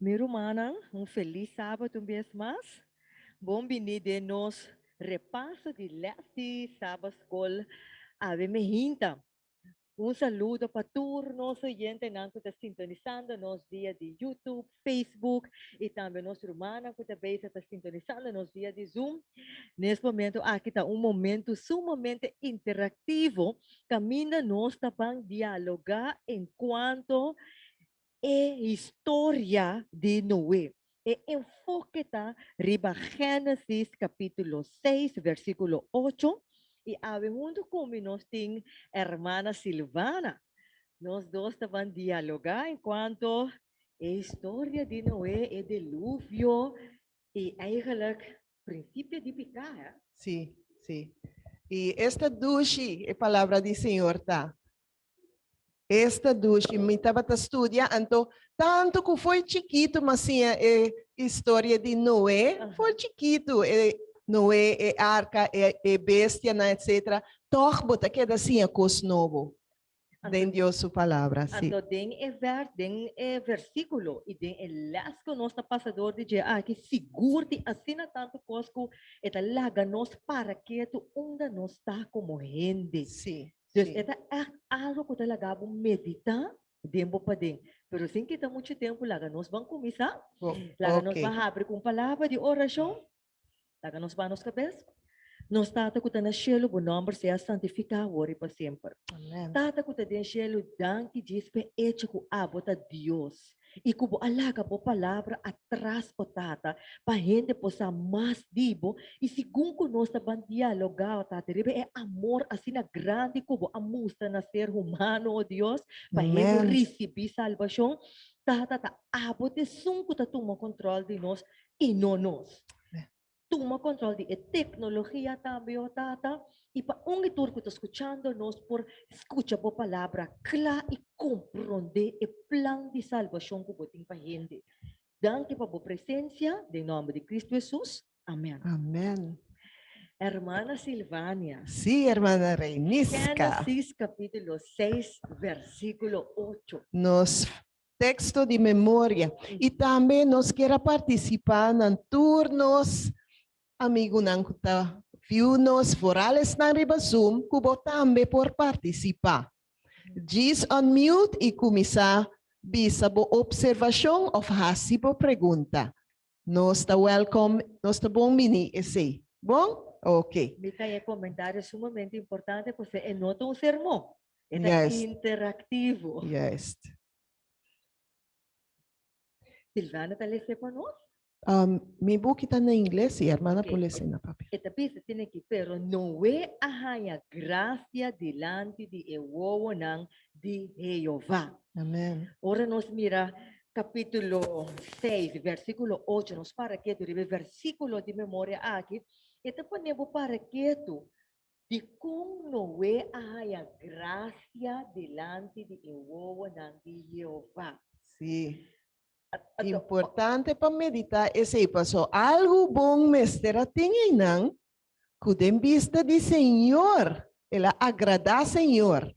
Mi rumannan, un felis sabado un bes mas. Bon bini den nos repaso di les di Sabba Skol Ave Mi Hinta. Un saludo pa tur nos oyentenan ku ta sintonisando nos via di YouTube, Facebook i tambe nos rumannan ku ta besa ta sintonisando nos via di Zoom. Nes momentu aki ta un momentu sumamente interaktivo kaminda nos ta ban dialogá en kuanto e historia di Noe. E enfoke ta riba Génesis capítulo seis versículo ocho. I awe huntu cu mi nos tin hermana Silvana. Nos dos taban dialoga en cuanto e historia di Noe, e deluvio i eigenlik principio di pica, he. Si, si. I esta dushi e palabra di Señor ta, Esta dushi mi tabata studia anto tanto cu fo'i chikitu ma siña e historia di Noé fo'i chikitu e Noé e arca e bestianan etc. Tog bo ta keda siña cos nobo den Dios su palabra si. Anto den e vers den e versiculo y den e les cu nos ta pasa door di dje aki sigur tin asina tanto cos cu e ta laga nos para ketu unda nos ta como hende. Si. Pues Sí. e ta ègt algu ku ta laga bo meditá den bo paden. Pero sin kita muchu tempu laga nos ban kuminsá. Bo- Laga nos oke. ban habri ku un palabra di orashon. Laga nos baha nos kabes. Nos Tata ku ta na shelu, bo nòmber sea santifiká wor i pa semper. Amèn. Tata ku ta den shelu, danki djis p'e echo ku abo ta Dios. i ku bo a laga bo palabra atras, o Tata, pa hende por sa mas di bo, i segun ku nos ta ban dialogá, o Tata, riba e amor asina grandi ku bo a mustra na ser humano, o Dios, pa hende risibí salbashon, Tata, ta abo t'esun ku ta tuma kontròl di nos i no nos. tuma control di e tecnologia tambe oh Tata, y pa un y tur cu ta scuchando nos por scucha bo palabra cla y compronde e plan di salvacion cu bo tin pa hende. Danki pa bo presencia, den nomber di Cristo Jesus, amen. Amen. Hermana Silvania. Sí, hermana Reynisca. Génesis capítulo 6 versículo 8. Nos Teksto di memoria i tambe nos kier a partisipá nan tur nos amigunan ku ta viu nos foral esnan riba Zoom ku bo tambe por partisipá. Djis unmute i kuminsá bisa bo opservashon òf hasi bo pregunta. Nos ta welkom nos ta bon bini esey. Bon? Ok. Mi ta e comentario sumamente importante pasobra e no ta un sermon. E ta interactivo. Juist. Silvana ta lese pa nos? Mi buki ta na ingles, si hermana por lese na papia. E ta bisa tin aki, Pero Noe a haña gracia dilanti di e wowonan di Jehová. Amen. Ora nos mira capítulo seis versículo ocho, nos para ketu riba e versículo di memoria aki, e ta pone bo para ketu di con Noé a haya gracia dilanti di e wowonan di Jehová. Sí, importante pa meditá esei, pasobra algu bon mester a tin einan Ku den bista di Señor, el a agradá Señor.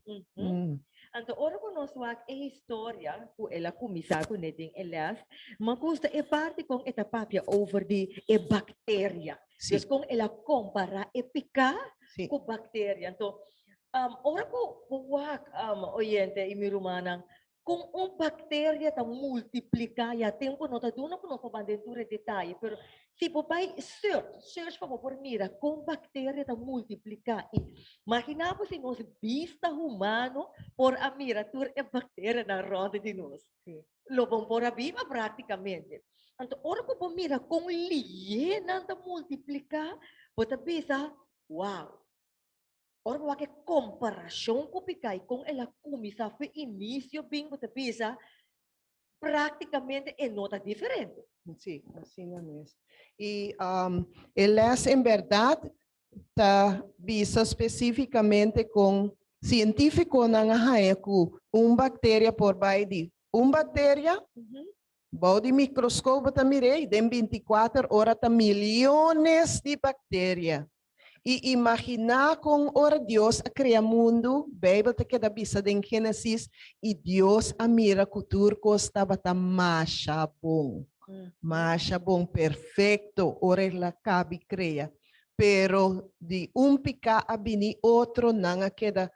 Anto ora ku nos wak e historia ku el a kuminsá kuné den e lès, mi a gusta e parti kon e ta papia over di e bakteria. Des kon el a kompará e piká ku bakteria. Anto, ora ku bo wak, oyente i mi rumannan, Kon un bakteria ta multipliká, ya tempu no ta duna ku no por ban den tur e detaye, pero si bo bai search, search pa bo por mira kon bakteria ta multipliká i maginá bo si nos bista humano por a mira tur e bakterianan rònde di nos. Si. Lo bon por a biba praktikamente. Anto ora ku bo mira kon liénan ta multipliká, bo ta bisa, wow! Ora bo wak e komparashon ku Pikai kon el a kuminsá fu inisio bin bo ta bisa praktikamente e no ta diferente. Sí, asina mes. I e lès en bèrdat ta bisa spesífikamente kon sientífikonan a haña ku un bakteria por bai di un bakteria, bou di mikroskop bo ta mir'ei, den binti kuater ora ta miliones di bakteria. i imaginá kon ora Dios a krea mundu, Beibel ta keda bisa den Génesis, i Dios a mira ku tur kos tabata masha bon, masha bon, perfekto, ora e la kabi krea. Pero di un piká a bini otro, nan a keda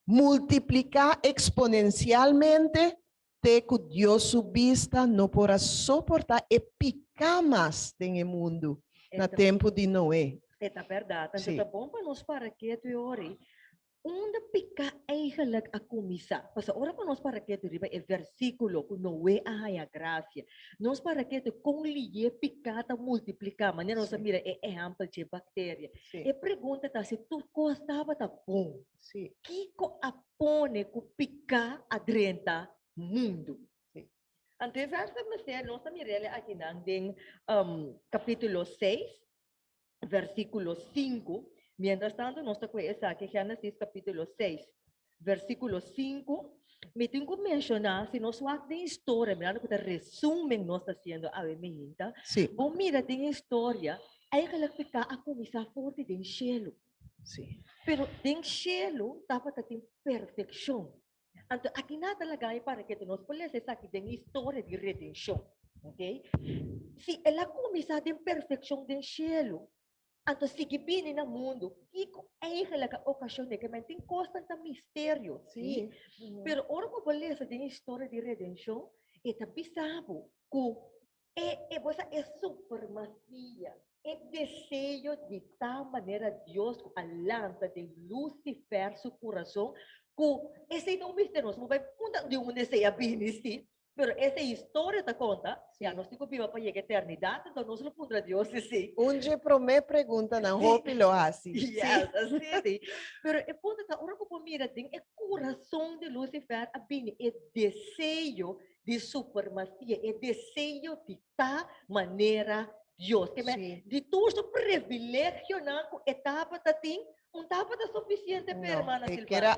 multipliká eksponensialmente Te ku Dios su bista no por a soportá e piká mas den e mundu na tempu di Noe. E ta bèrdat. Anto ta bon pa nos para ketu e ora ei. Unda piká eigenlik a kuminsá? Pasobra ora pa nos para ketu riba e versíkulo ku Noe a haña grasia, nos para ketu kon lié piká ta multipliká. Manera nos a mira e ehèmpel dje bakteria. E pregunta ta si tur kos tabata bon, kiko a pone ku piká a drenta mundu. Ant e vèrsnan mester nos ta mir'el akinan den kapítulo seis, vèrsikulo sinku. Mientrastantu nos ta kue esaki, Génesis kapítulo seis, vèrsikulo sinku. Mi tin ku menshoná, si nos wak den historia, mirando ku ta resumen nos ta hasiendo awe mijinta, bo mira den historia, èigelik piká a kuminsá forti den shelu. Sí. Pero den shelu tabata tin perfekshon. Anto aki nan ta laga mi para keda nos por lesa esaki den e historia di redenshon. Ok? Si el a kuminsá den perfekshon den shelu, anto sigui bini na mundu, kiko eigenlijk a okashon'é? Ke men tin kosnan ta misterio, sí. Pero ora ku bo lesa den e historia di redenshon, e ta bisa bo ku E e bosa e supremacia. E deseo di tal manera Dios cu a lanta den Lucifer su curason cu esey ta un mester nos mo bay punta di unda esey a bini si, pero esey historia ta conta ya nos tin cu biba pa yega eternidad enton nos lo puntra Dios si si. Un dje prome pregunta nan hopi lo haci si. Yes asi si, pero e punto ta ora cu bo mira den e curason di Lucifer a bini e deseo di supremacia, e deseo di ta manera Dios. Ke men, di tur su privilegionan ku e tabata tin, un tabata sufisiente pa e hermana Sylvania.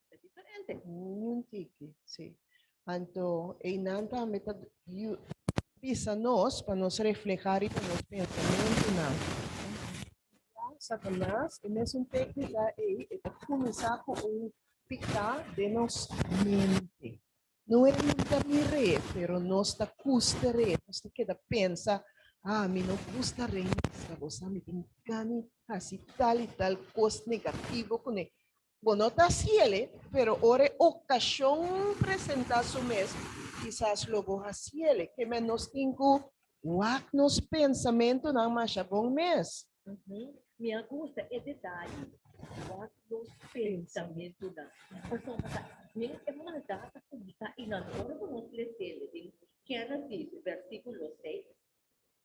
Ta diferente niun tiki, si. Anto einan tambe ta yu bisa nos pa nos refleha riba nos pensamentunan. Ya Satanas e mesun teknika ei e ta kuminsá ku un piká den nos mente. No e hunta mi re, pero nos ta kuste re, nos ta keda pensa, a mi no gusta re, mi ta estra bo sa, mi tin gana di hasi tal i tal kos negativo kuné Bo no ta hasiele, pero ora e okashon presenta su mes, kisas lo bo hasiele. Ke men nos tin ku wak nos pensamentunan masha bon mes? Mi a gusta e detaye, wak nos pensamentunan. Pasobra bo ta hasié e maldat ta kumsa i nan ora bo no hasié hasiele den Genesis, versikulo seis,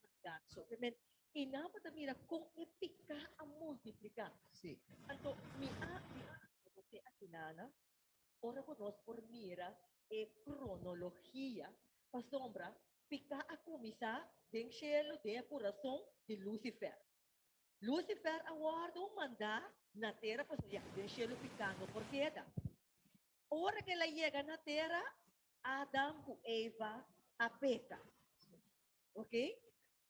mandat so pe men y nan bo ta mira con e pica a multiplica. Sí. Anto mi a mi a bo te akinana ora bo nos por mira e cronologia pasobra pica a cuminsa den cielo den e curason di Lucifer. Lucifer a wordo manda na tera pasobra ya den cielo pica no por keda. Ora que el a yega na tera Adam ku Eva a peka. Oke,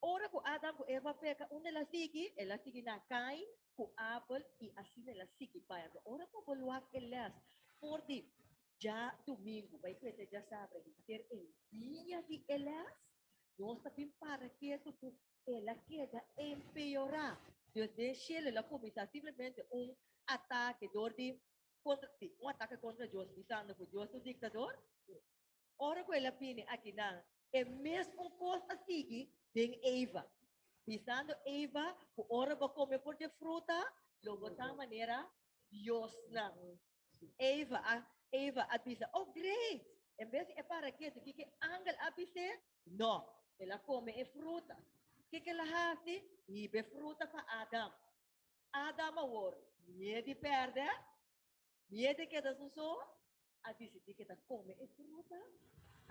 ora ku Adam ku Eva a peka, unda el a sigui? El a sigui na Kain ku Abel i asina el a sigui bai. Ato ora ku bo loak e lès for di dja dumingu, bai prende dja sabra i henter e dia di e lès, nos ta bin para ketu ku el a keda empeorá. Dios den shelu el a kuminsá simplemente un atake dor di Contra, sí, un ataque contra Dios bisando cu Dios ta un dictador. Ora cu el a bini akinan, e mesmo cos a sigui den Eva, bisando Eva cu ora bo come por dje fruta lo bo ta manera diosnan. Eva a Eva a bisa, Oh, great! En bes di e para ketu kiko e angel a bis'é, no, el a come e fruta. Kiko el a haci? Hiba e fruta pa Adam. Adam a wor mié di pèrdè, mié di keda su so, a disidí ke ta kome e fruta,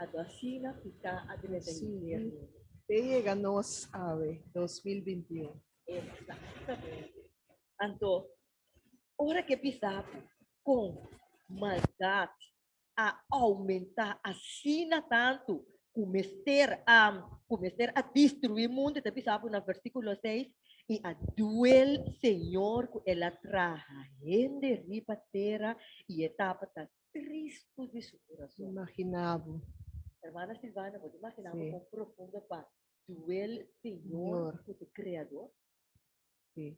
a do asina fiká adrenta infiernu. Te yega nos awe, dos mil binti i un. Eksatamente. Anto, ora ke bisa bo kon maldat a oumentá asina tantu ku mester a ku mester a destruí mundu, e ta bisa apu na versíkulo seis, I a duel Señor ku el a traha hende riba tera i e tabata tristu di su kurason. Imaginá bo. Hermana Silvana, bo ta imaginá bo kon profundo pa duel Señor ku su Kreador? Sí.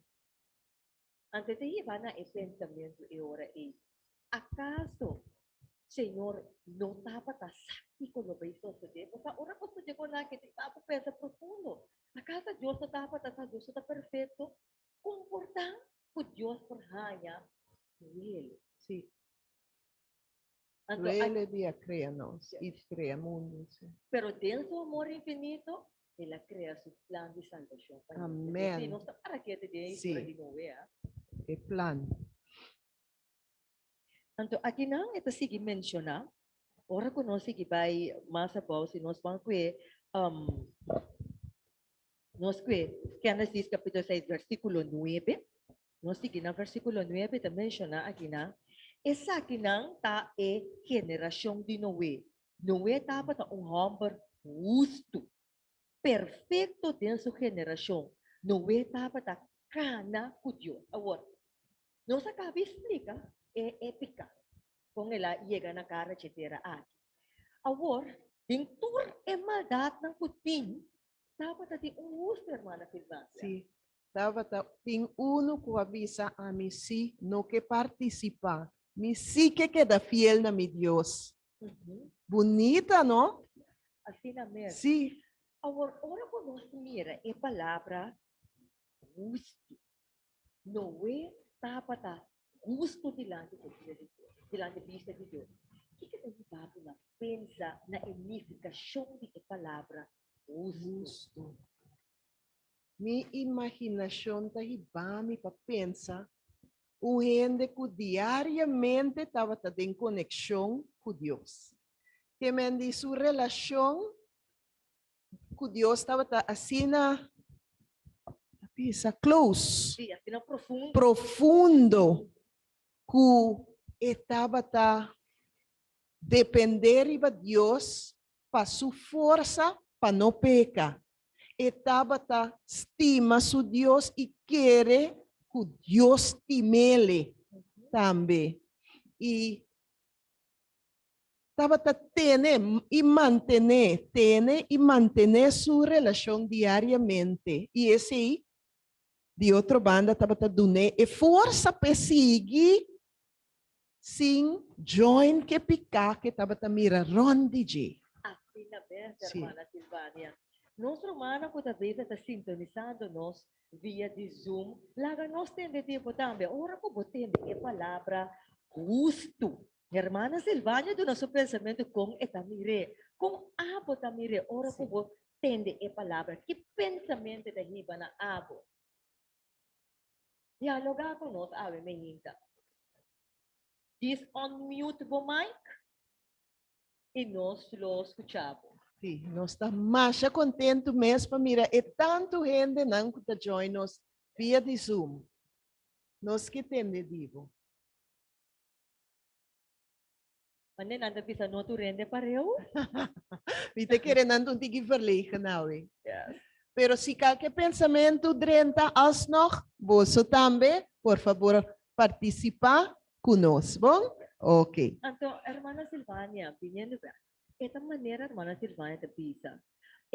Antes di hiba na e pensamentu e ora ei, Akaso Señor no tabata sa kiko lo bay sosodé? Bo sa, ora bo studia ku nan hende, ta bo pensa profundo, Acaso Dios no tabata sa? Dios no ta perfecto? Con por ta ku Dios por haña duel? Sí. Anto Rele di a krea nos i krea mundu, si. Pero den su amor infinito el a krea su plan di salbashon pa nos. Amen. Si, nos ta para kiet den e historia di Noe, a. E plan. Anto aki nan e ta sigui menshoná, ora ku nos sigui bai mas abou, si nos ban ku e, nos ku e Génesis kapitulo seis, versíkulo nuebe. Nos tigi na versíkulo nuebe ta menshoná akinan, esakinan ta e generashon di Noe. Noe tabata un hòmber hustu, perfekto den su generashon. Noe tabata kana ku Dios. Awor, nos a kaba di splika e e pika kon el a yega na kara dje tera aki. Awor, den tur e maldatnan ku tin, Tabata tin un huste hermana tin Nadia. Sí, Tabata tin unu cu a bisa ami sí no ke participa, mi sí ke keda fiel na mi Dios. Bunita no? Asina mes. Sí. Awor ora cu nos mira e palabra huste, Noe tabata husto dilanti cu bista di Dios, dilanti bista di Dios. Kiko nos papia pensa na e nificacion di e palabra Hustu. Mi imaginashon ta hiba mi pa pensa un hende ku diariamente tabata den konekshon ku Dios. Te men di su relashon ku Dios tabata asina bisa close, profundo, ku e tabata depende riba Dios pa su forsa pa no peka. E tabata stima su Dios i kere ku Dios timele tambe. I tabata tene i mantené tene i mantené su relashon diariamente i esei di otro banda tabata dun'é e forsa p'e sigui sin join k'e piká k'e tabata mira rònt di dje. Asina bes, Hermana Silvania. Nos rumannan ku ta besa ta sintonisando nos via di Zoom, laga nos tende tempu tambe ora ku bo tende e palabra hustu Hermana Silvania duna su pensamentu kon e ta mir'é. Kon abo ta mir'é ora ku bo tende e palabra? Ki pensamentu ta hiba na abo? Dialoga ku nos awe mi hinta. Dis unmute bo mic i nos lo skucha bo. Sí, nos ta masha kontentu mes pa mira e tantu hendenan ku ta join nos via di Zoom. Nos ke tende di bo. Mande nan ta bisa no tu rende pareu. Mi ta kere nan ta un tiki verlegen awe. Yes. Pero si kal ke pensamentu drenta alsnog, boso tambe por fabor partisipá ku nos, bon? Oke. Anto, hermana Silvania, biniendo bek, e ta manera hermana Silvania ta bisa.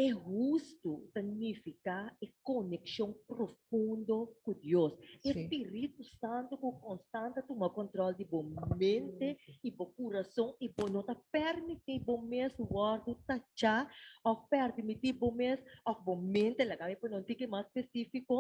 E hustu ta nifiká e konekshon profundo ku Dios. E spiritu santu ku konstant ta tuma kòntròl di bo mente i bo kurason i bo no ta pèrmití bo mes wòrdu tachá òf pèrdimití bo mes òf bo mente. Laga mi pone un tiki mas spesífiko,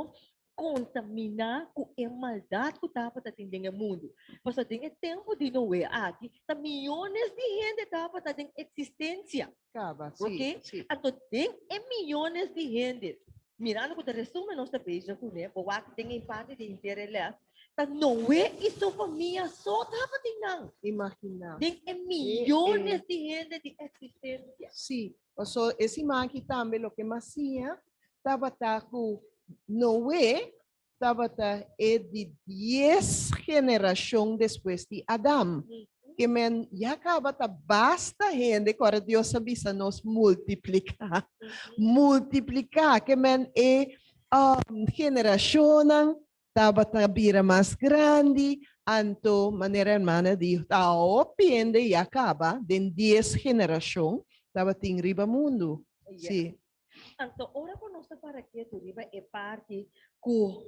kontaminá ku e maldat ku tabata tin den e mundu. Pasobra den e tempu di Noe aki ta miónes di hende tabata den eksistensia. Kaba, si. Oke? Si. Anto den e miónes di hende, mirando ku ta resumen nos ta beja kuné, bo wak den e parte di hintere lèf, ta Noe i su famia so tabatin nan. Imaginá. Den e miónes di hende di eksistensia. Si. Paso e siman aki tambe loke mas siña tabata cu Noe tabata e di dies generacion despues di Adam. Ke men ya caba ta basta hende cu ora Dios a bisa nos multiplica, multiplica. Ke men e generacionnan Tabata bira mas grandi, anto manera hermana di ta hopi hende ya caba den dies generacion tabatin riba mundo. Si. Anto ora cu nos ta para ketu riba e parti cu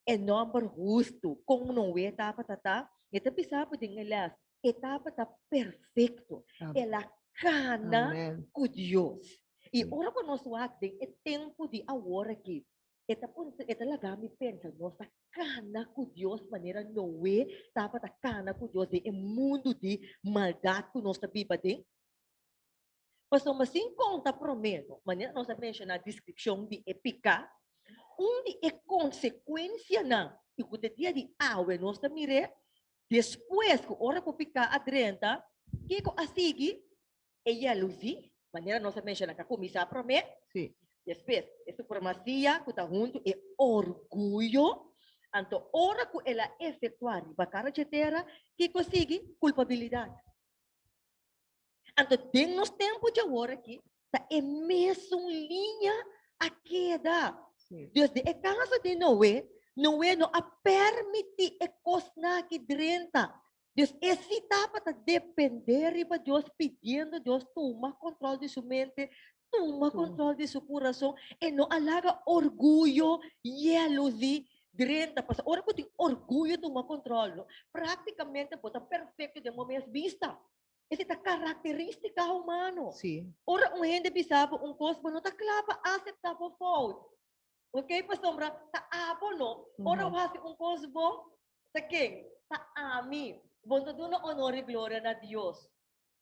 e nomber hustu con no we tabata ta, mi ta bisa apu den e les, e tabata perfecto, el a cana cu Dios. Y ora cu nos wak den e tempo di awor aki, E ta pon, e ta laga mi pensa, nos ta kana ku Dios manera Noe tabata kana ku Dios den e mundu di maldat ku nos ta biba den? Pasobra sin konta promé, manera nos a menshoná deskripshon di e piká, un di e konsekuensianan i ku ta dia di awe nos ta mir'é, despues ku ora ku piká a drenta, kiko a sigui? E yellow sí, manera nos a menciona ta cuminsa prome. Sí. Despues e supremacia cu ta hunto e orguyo. Anto ora cu el a efectua riba cara dje tera, kico sigui? Culpabilidad. Anto den nos tempo dje awor aki ta e mesun liña a keda. Sí. Dus den e caso di Noe, Noe no a permiti e cosnan aki drenta Dios esei tabata depende riba Dios pidiendo Dios tuma control di su mente, tuma control di su curason e no a laga orguyo, jealousy, drenta pasa. Ora cu tin orguyo tuma control lo practicamente bo ta perfecto den bo mes bista. Esei ta caracteristica humano. Sí. Ora un hende bisa bo un cos bo no ta cla pa acepta bo fout, ok pasobra ta abo no. Ora bo haci un cos bo Ta ken? Ta ami. Bo ta duna onor i gloria na Dios.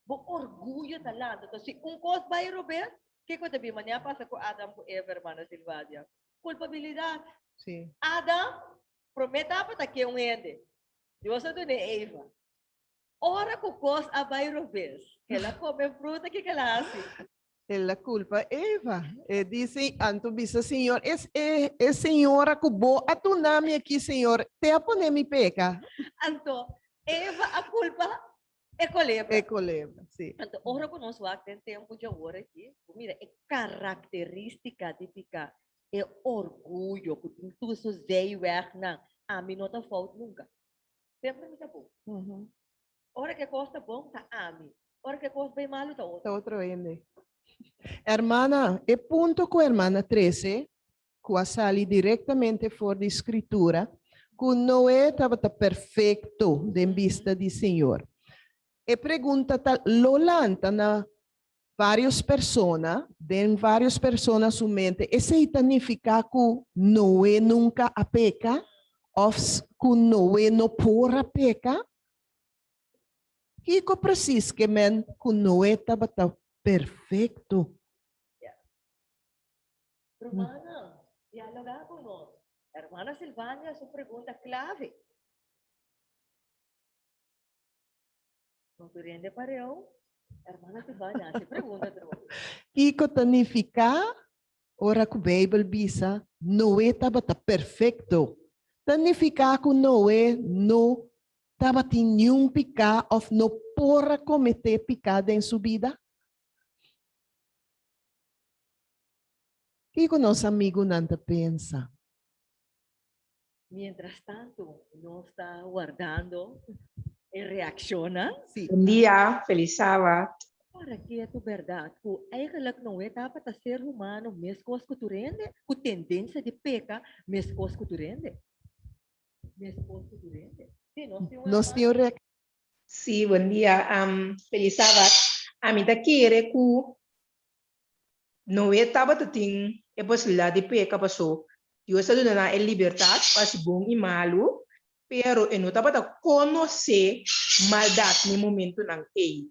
Bo orguyo ta lanta. Ta si un kos bai robes, kico ta bin? Manera a pasa cu Adam cu Eva, hermana Silvania. Culpabilidad. Sí. Adam, prome tapa ta ken un hende? Dios a duna e Eva. Ora cu cos a bay roves. El a come fruta kico el a haci? El a culpa Eva. E di, Anto bisa Señor, es e e señora cu bo a duna mi aki, Señor, te a pone mi peca. Anto Eva a culpa e culebra. E culebra, si. Anto ora cu nos wak den tempo dje awor aki, bo mira e caracteristica di pica, e orguyo cu tin tusu zeyweg nan, ami no ta fout nunca. Dep na mi ta bon. Ora ke kos ta bon ta ami. Ora ke kos bay malu ta otro. Ta otro hende. Hermana, e punto cu hermana trece, cu a sali directamente for di scritura, cu Noe tabata perfecto den bista di Señor. E pregunta ta lo lanta na Varios persona, den varios persona su mente, esei ta nifiká ku Noe nunka a peka òf ku Noe no por a peka? Kiko presis ke men ku Noe tabata perfekto? Rumannan, dialogá ku nos. Hermana Silvania su pregunta klave. Kiko ta nifiká ora ku Beibel bisa Noe tabata perfekto? Ta nifiká ku Noe no tabatin niun piká òf no por a kometé piká den su bida? Kiko nos amigunan ta pensa? Mientras tanto nos ta wardando e reaccionnan. Bon dia, feliz sabat. Para ke tu berdad cu eigenlik no e tapa ta ser humano mescos cu tu rende, cu tendencia di peca mescos cu tu rende? Mescos cu tu rende. Si, nos tin un Nos tin un hermano. reaccion. Si, bon dia. Am, feliz sabat. Ami ta kere cu Noe tabata tin e posibilidad di peka, paso Dios a duna nan e libertad pa haci bon y malu, pero e no tabata conoce maldad na e momentonan ey.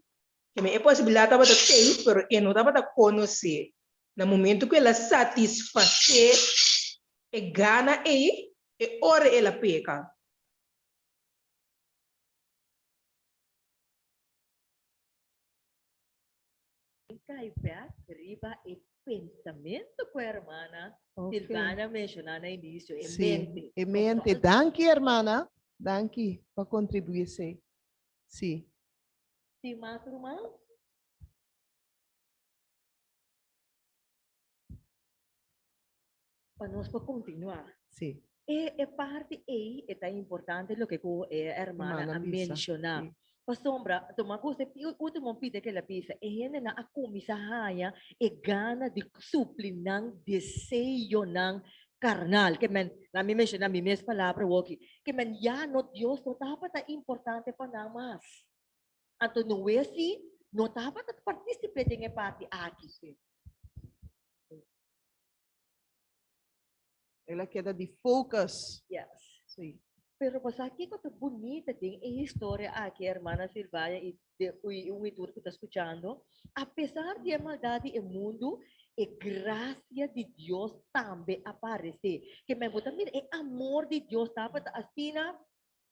Keme? E posibilidad tabata tey, pero e no tabata conoce. Na momento cu el a satisface e gana ey, e ora el a peka. E kai bek riba e pensamentu ku hermana Silvana menshona na inicio, e mente. Si, e mente. Danki hermana, danki pa kontribuí esei. Si. Tin mas ruman? Pa nos por continua. Si. E e parti ei e ta importante loke ku e hermana a menciona. Pasobra tuma kosa e ultimo pide kila bisa e hendenan a kuminsa haña e gana di supli nan deseonan karnal. Ke men, la mi menciona mi mes palabra woki, ke men ya no Dios no tabata importante pa nan mas. Anto no we si no tabata particip'e den e parti aki. El a keda di focus. Yes. Sí. Pero pasá kiko ta bunita den e historia aki, hermana Sylvia i de i un i tur ku ta skuchando? A pesar di e maldad di e mundu, e grasia di Dios tambe a paresé. Ke men bo ta mira e amor di Dios tabata asina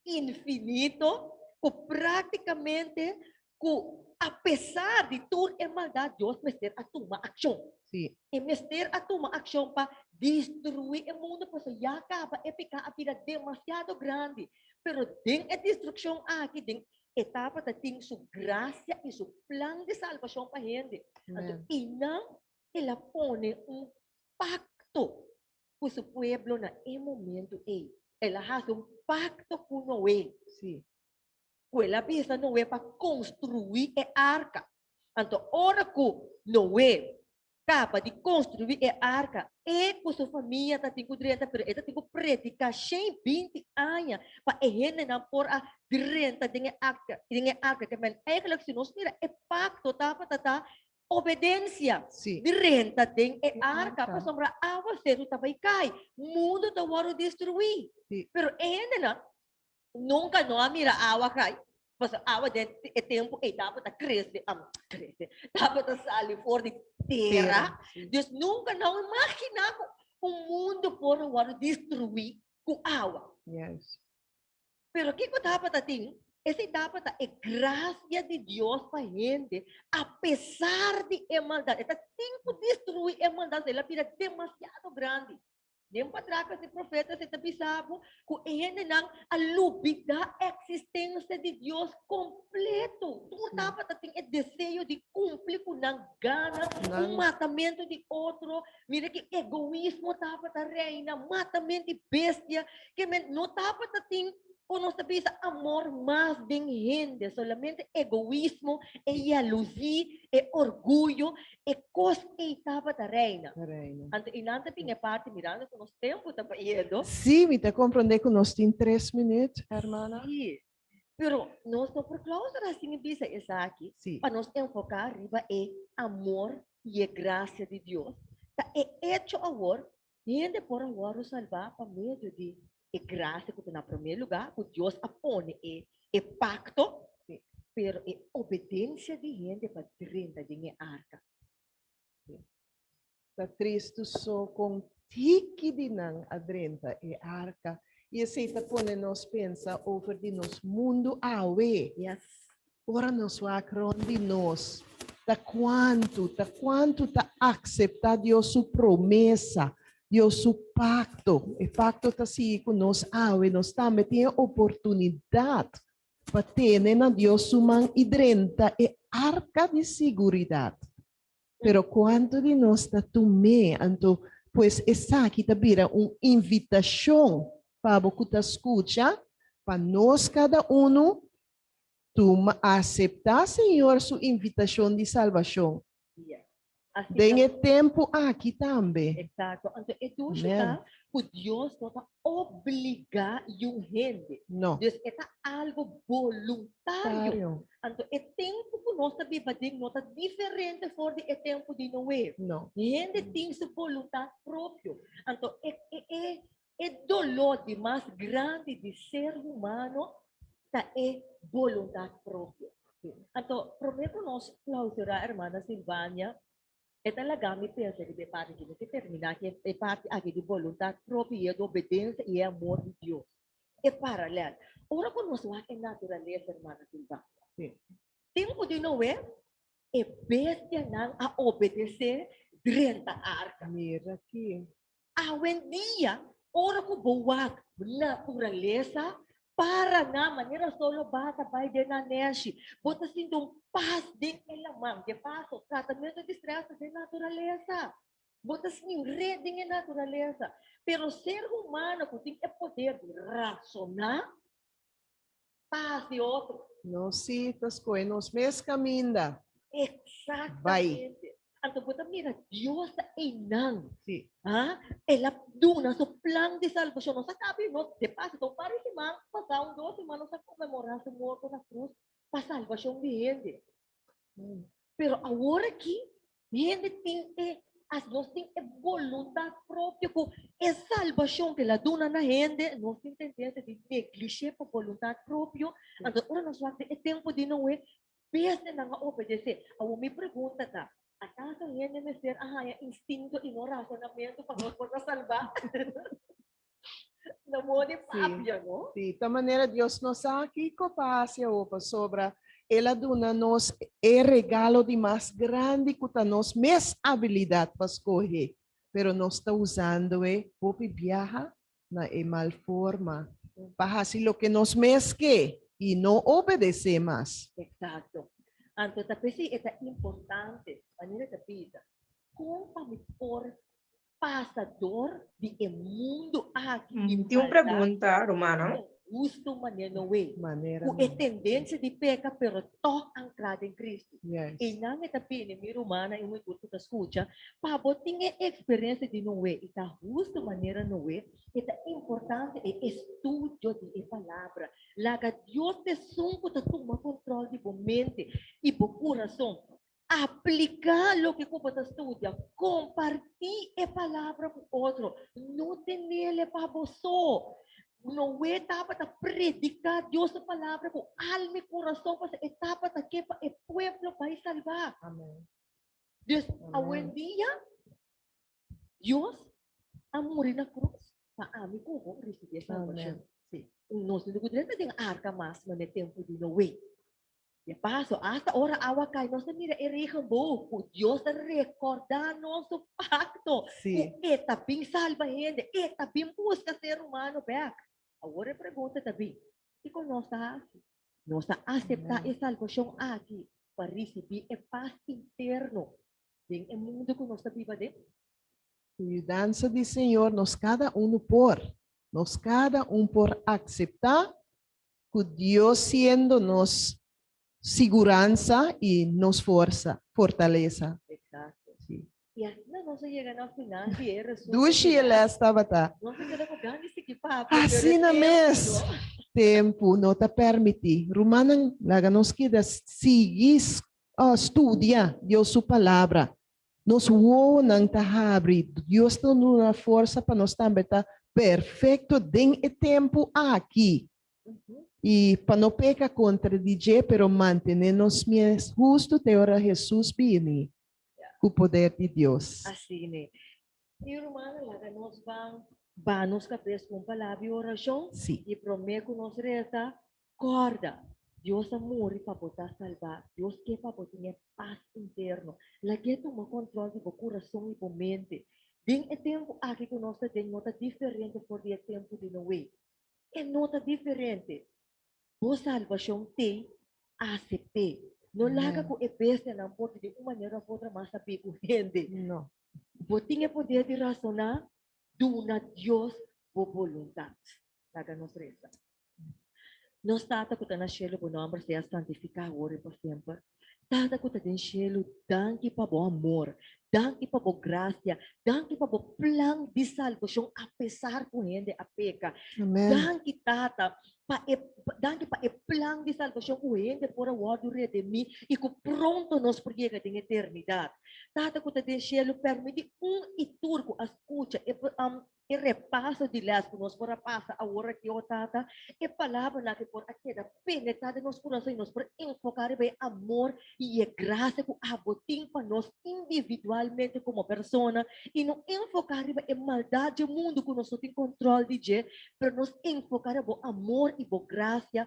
infinito cu practicamente cu apesar di tur e maldad Dios mester a tuma accion. Sí. E mester a tuma accion pa destrui e mundo pasobra ya caba e peca a bira demasiado grandi. Pero den e destruccion aki den e tabata tin su gracia y su plan di salvacion pa hende. Anto Amen. eynan el a pone un pacto cu su pueblo na e momento ey. El a haci un pacto cu Noe. Sí. Cu el a bisa Noe pa construi e arca. Anto ora cu Noe caba di construi e arca, e cu su famia tatin cu drenta, pero e tatin cu predica shen binti aña pa e hendenan por a drenta den e arca, den e arca. Ke men, eigenlijk si nos mira e pacto tabata ta Obedencia Sí. di renta den e E arka arka. pasobra aguaseru ta bay cay, mundo ta wordo destrui. Sí. Pero e hendenan nunca no a mira agua cay, pasobra agua den e tempo ey tabata crece, am, crece, tabata sali for di tera, Sí. dus nunca no a imagina cu un mundo por a wordo destrui cu agua. Yes. Pero kico daba ta tin? Esey daba ta e gracia di Dios pa hende apesar di e maldad. E ta tin cu destrui e maldad pasobra el a bira demasiado grandi. Den patraca di profeta esey ta bisa bo cu e hendenan a lubida existencia di Dios completo. Tur daba ta tin e deseo di cumpli cu nan gana, un matamento di otro. Mira ki egoismo daba ta reina, matamento di bestia. ke men no tapa ta tin kon nos ta bisa amor mas den hende, solamente egoismo, e yalusí, e orguyo, e kos ei tabata reina. Ta reina. Anto i nan ta tin e parti mirando ku nos tempu ta bayedo. Sí, mi ta komprondé ku nos tin tres minüt, hermana. Sí, pero nos no por klausura sin bisa esaki, Sí. pa nos enfoká riba e amor i e grasia di Dios, ta e echo awor Hende por a wòrdu salbá pa medio di e grasia ku ta na promé lugá, ku Dios a pone e e pakto, pero e obedensia di hende pa drenta den e arka. Ta tristu so kon tiki di nan a drenta e arka, i esei ta pone nos pensa over di nos mundu awe. Yes. Ora nos wak rond di nos, ta kuantu ta kuantu ta akseptá Dios su promesa, Dios su pakto? E pakto ta sigui ku nos awe. Nos tambe tin e oportunidat pa tene na Dios su man i drenta e arka di siguridat. Pero kuantu di nos ta tum'é? Anto pues esaki ta bira un invitashon pa bo ku ta skucha pa nos kada unu Tuma, aseptá Señor su invitashon di salbashon. Dia. Asina. Den e tempu aki tambe. Eksakto. Anto e dushi ta Amen. ku Dios no ta obligá yu hende. No. Dus e ta algu boluntario. Tario. Anto e tempu ku nos ta biba den no ta diferente for di e tempu di Noe. No. Hende tin su boluntat propio. Anto e e e E doló di mas grandi di ser humano ta e bolundat propio. Anto, promé ku nos klausurá Hermana Sylvania, e ta laga mi pensa riba e parti aki. Mi ke terminá ku e parti aki di bolundat propio i e obedensia i e amor di Dios. E paralèl. Ora ku nos wak e naturalesa, Hermana Sylvania, tempu di Noe, e bestianan a obedesé drenta arka. Awendia, ora ku bo wak naturalesa para na manera sol lo ba ta bai den na nèshi, bo ta sinti un pas den e laman. De paso, tratamentu di strès ta den naturalesa. Bo ta snin ret den e naturalesa. Pero ser humano ku tin e poder di rasoná Pas di otro. Nos si ta scohe nos mes caminda. Exactamente. Anto bo ta mira Dios ta einan. Si. Ah, el a duna su plan di salvacion. Nos a cabe nos de paso. Ta un par di siman pasa, un dos siman nos a conmemora su morto na cruz pa salvacion di hende. Pero awor aki, mi hende tin e, as nos tin e boluntat propio ku e salbashon ke la duna na hende, nos tin tendensia di neglish'é pa boluntat propio. Anto ora nos wak den e tempu di Noe, peste nan a obedesé. Awor mi pregunta ta, Akaso hende mester a haña instinto i no razonamentu pa nos por ta salbá? Na mor di papia, sí, no? Sí, ta manera Dios no sa kiko pa hasi awor pasobra el a duna nos e regalo di mas grandi ku ta nos mes abilidat pa skohe, pero nos ta usando e hopi biaha na e mal forma pa hasi loke nos mes ke i no obedesé mas. Eksakto. Anto ta p'esei e ta importante manera ta bisa kon pa mi por Pasador di e mundo aki di maldad. Tin un pregunta rumannan. Con gusto manera no way. Manera no. Cu e tendencia di peca pero toch ancla den Cristo. Yes. Eynan e ta bini mi rumannan y mi tur cu ta scucha, pa bo tin e experiencia di no way y ta husto manera no way, e ta importante e estudio di e Palabra. Laga Dios esun cu ta tuma control di bo mente y bo curazon. Apliká loke ku bo ta studia. Kompartí e palabra ku otro. No tenel e pa bo so. Noe tabata prediká Dios su palabra ku alma i kurason pasobra e tabata ke pa e pueblo bai salbá. Amen. Dus awendia Dios a muri na cruz pa ami cu bo ricibi e salvacion. Nos tin cu drenta den arca mas na e tempo di Noe. Di e paso hasta ora awa cay nos ta mira e regenboog cu Dios ta recorda nos su pacto cu e ta bin salba hende, e ta bin busca ser humano bek. Awor e pregunta ta bin, kico nos ta haci? Nos a acepta e salvacion aki pa ricibi e paz interno den e mundu ku nos ta biba den? Ku yudansa di Señor nos kada unu por. Nos kada un por akseptá ku Dios siendo nos siguransa i nos forsa, fortalesa. Eksakto. Si. I asina nos a yega na final di e resumen final. Dushi e lès tabata. Nos a keda ku gan di sigui papia, pero e tempu no. Asina mes, tempu no ta permití. Rumannan, laga nos keda sigui Studia Dios su Palabra. Nos wowonan ta habri. Dios ta duna forsa pa nos tambe ta perfecto den e tempu aki. Y pa no peca contra di dje, pero mantene nos mes hustu te ora Jesus bini cu poder di Dios. Asina e. Tin rumana, laga nos ban ba nos cabes cu un palabra di oracion. Y prome cu nos reza, Kòrda, Dios a muri pa bo ta salbá. Dios ke pa bo tene pas interno. Lag'E tuma kòntròl di bo kurason i bo mente. Den e tempu aki ku nos ta den no ta diferente for di e tempu di Noe. E no ta diferente! Bo salbashon t'ei ACP. No laga ku e bestianan por di den un manera òf otra mas a bin ku hende. Bo tin e poder di rasoná, duna Dios bo boluntat. Laga nos resa. Nos Tata ku ta na shelu, bo nòmber sea santifiká awor i por semper. Tata ku ta den shelu, danki pa bo amor, danki pa bo grasia, danki pa bo plan di salbashon apesar ku hende a peka. Danki Tata pa e danki pa e plan di salbashon ku hende por a wòrdu redimí i ku pronto nos por yega den eternidat. Tata ku ta den shelu, permití un i tur ku a skucha e E repaso di lès ku nos por a pasa awor aki, o Tata, e palabranan ke por a keda penetrá den nos kurason i nos por enfoká riba e amor i e grasia ku abo tin pa nos individualmente komo persona i no enfoká riba e maldat dje mundu ku nos no tin kòntròl di dje, pero nos enfoká riba bo amor i bo grasia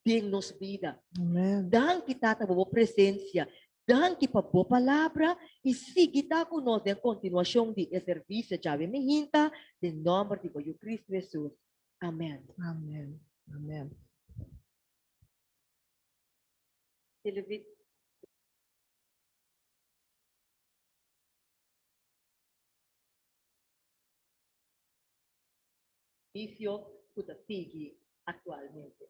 den nos bida. Amen. Danki Tata bo bo presencia. Danki pa bo palabra y sigui ta cu nos den continuacion di e servicio djawe mijinta den nomber di bo Yu Cristo Jesus. Amen. Amen. Amen. Televi. vicio cu ta sigui actualmente.